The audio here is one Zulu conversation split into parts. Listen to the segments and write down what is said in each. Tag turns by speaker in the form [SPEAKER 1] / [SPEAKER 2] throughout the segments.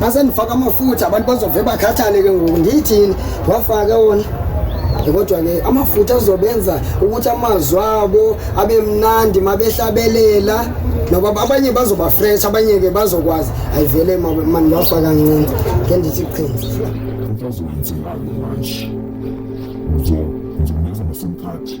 [SPEAKER 1] mase ndifaka amafutha abantu bazove bakhathale ke ngoku ndiyithini wafake wona kodwa-ke amafutha azobenza ukuthi amazwi abo abe mnandi mabehlabelela noba abanye bazoba fresh abanye-ke bazokwazi ayivele mandiwafa kancinci ke ndithi qhinzi uzowenzelani manje ngizomenza
[SPEAKER 2] ngesimkhathi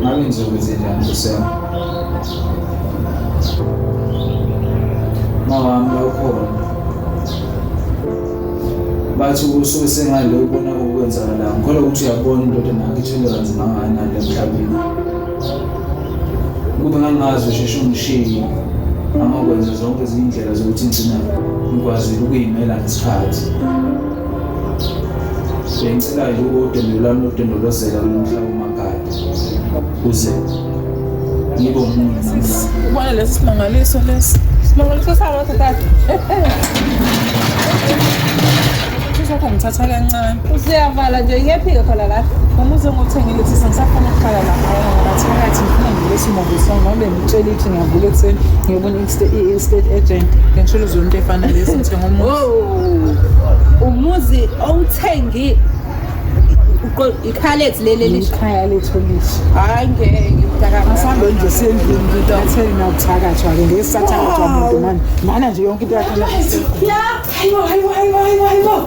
[SPEAKER 3] Ngabe ngizokwenze njani kusema? Mawami lokhona. Bathi usuke sengale ubona okwenzakalayo. Ngikholwa ukuthi uyabona indoda nakho ithwele kanzima kangakanani emhlabeni. Kube ngangazi usheshe ungishiye angakwenza zonke izindlela zokuthi ngigcina ngikwazile ukuyimela ngesikhathi. Bengicela yiwo udendo lwami lokudondolozela umhla umakhaya kuze ngibe umuntu ubona lesi
[SPEAKER 4] simangaliso lesi simangaliso sabo thatha sakho ngithatha kancane useyavala nje
[SPEAKER 5] iyephika khona la noma uzongothengile
[SPEAKER 4] ukuthi sengisafuna ukuhlala lapha ngaphakathi ngifuna ngilesi movie song ngoba bengitshela ukuthi ngiyavula ekuseni ngiyobona i-instate agent ngisholo zonto efana lezi ngithenga umuzi oh, umuzi
[SPEAKER 5] owuthengi ikhalet leli likhaya lethu
[SPEAKER 4] lisho hayi ngeke
[SPEAKER 5] asambe nje sendlini
[SPEAKER 4] ngitatheni nawuthakathwa ke ngeke sathakathwa muntu mani mana nje yonke into yakhe ya hayibo hayibo
[SPEAKER 6] hayibo hayibo hayibo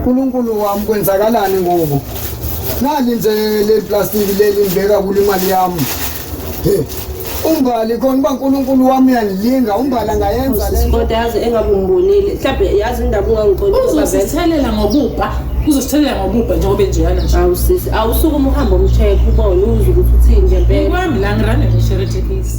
[SPEAKER 1] Nkulunkulu wami kwenzakalani ngoku nali nje le plastiki leli ngibeka kule imali yami he umbali khona uba nkulunkulu wami uyangilinga umbali angayenza le nto kodwa yazi engabe
[SPEAKER 5] umbonile mhlawumbe yazi indaba ungangixoki uzosithelela
[SPEAKER 4] ngokubha uzosithelela ngokubha njengoba enjeyana nje awu sisi awusuke
[SPEAKER 5] umhambo umshekhe ubone uze ukuthi uthini ngempela kwami la ngirane
[SPEAKER 4] ngisheretekisi